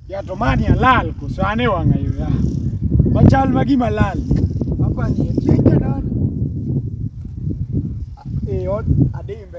Yatomani alal koso an e wang'a yo ya. Machal ma gima lal. Hapa ni etie jana. E od adimbe.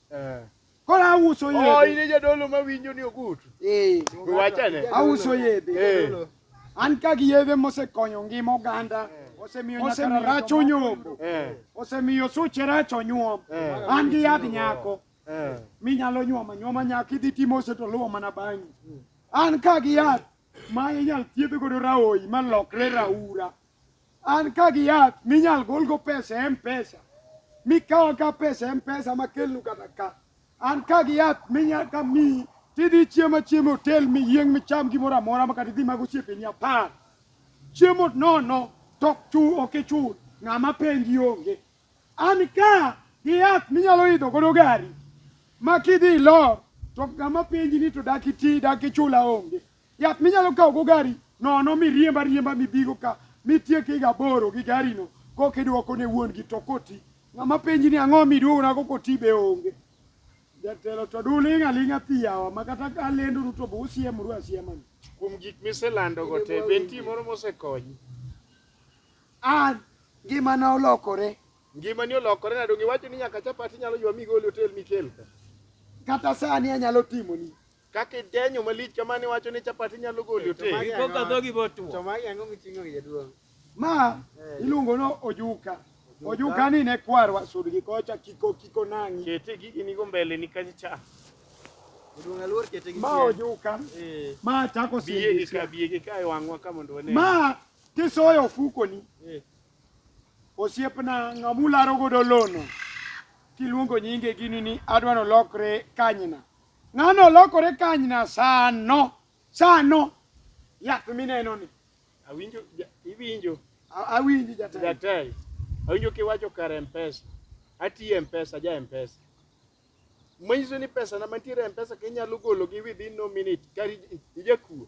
Eh. Koro auso oh, yedhe. Oh, ine jadolo ma winjo ni ogut. Eh. Wachane. Auso yedhe. Eh. An ka gi yedhe mosekonyo ngima oganda. Eh. Osemiyo rach onyombo. Eh. Osemiyo suche rach onyuom. Eh. An gi yadh nyako. Eh. Minyalo nyuoma nyuoma nyako idhi timo ose to luwo mana bang'i. An ka gi yath ma inyal thiedh godo raoyi ma lokre raura. An ka gi yath minyal golgo pesa e mpesa mikawa ka pesa e mpesa makelnu kata ka an ka gi yath minyal ka mi tidhi chiemo chiemo hotel miyieng micham gimoro amora makata idhi mag osiepeni apar chiemo nono to ok ichul ng'ama penji onge an ka gi yath minyalo idho godo gari ma kidhi ilor to ng'ama penji ni to dak iti dak ichula onge Yath minyalo kawo go gari nono miriemba riemba mibigo ka mitiek higa aboro gi garino koka idwoko ne wuon gi to koti. Ng'ama penji ni ang'o miduogona go koti be onge. Jatelo to duling' aling'a pi yawa ma kata ka lenduru to be usiemru asiema ni. Kuom gik miselandogo te, be nitie moro mosekonyi? An ngimana olokore. Ngimani olokore nade? Onge iwacho ni nyaka chapati inyalo ywa migol e otel mikel ka. Kata sani anyalo timoni. Kaka idenyo malich kamano iwacho ni chapat inyalo golo ote. Iko ka dhogi botwo. To magi ang'o miting'o gi jaduong'? Ma iluongo no ojuka. Ojuka ni ne kwarwa sud gi kocha kiko kiko nang'i. Kete gigi nigo mbele ni kacha cha. Jaduong' aluor kete gi Ma chien. ojuka. Eh, Ma chako Biye gi ka sindisha. biye gi ka e wang'wa ka mondo wane. Ma kisoyo ofukoni. eh. Osiepna ng'amularo godo lono. Kiluongo nyinge gini ni adwa nolokre kanyna. Ng'ano olokore kanyna sano, sano. Yath mineno ni. Awinjo, iwinjo. Awinji jatelo. Jatelo. Awinjo kiwacho kar Mpesa. Atiyo Mpesa, ja Mpesa. Manyiso ni pesa na mantiere Mpesa kinyalo golo gi within no minute kari ijakuo.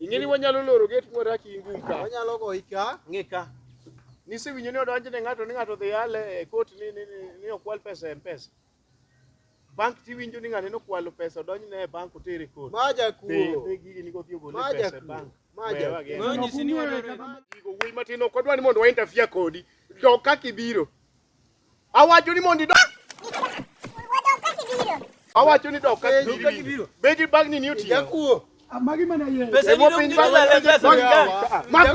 Ing'e ni wanyalo loro gate mwadak in gum ka. Wanyalo goyi ka. Ng'e ka. Nisewinjo ni odonjne ng'ato ni ng'ato dhi yale e kot ni ni ni okwal pesa e Mpesa. Bank tiwinjo ni ng'ani nokwalo pesa odonjne e bank otere kot. Ma jakuo. Dhi gigi ni kodhi ogole pesa e bank. Ma jakuo. Gigo wuoyi matin ok odwa ni mondo wa interfere kodi. Dog kaka ibiro. Awacho ni mondo idog. Awacho ni dog ka gibiro. Begi bagni ni otiyo. Jakuo. Amagi mana yeye. Pesa ni dog ni dog.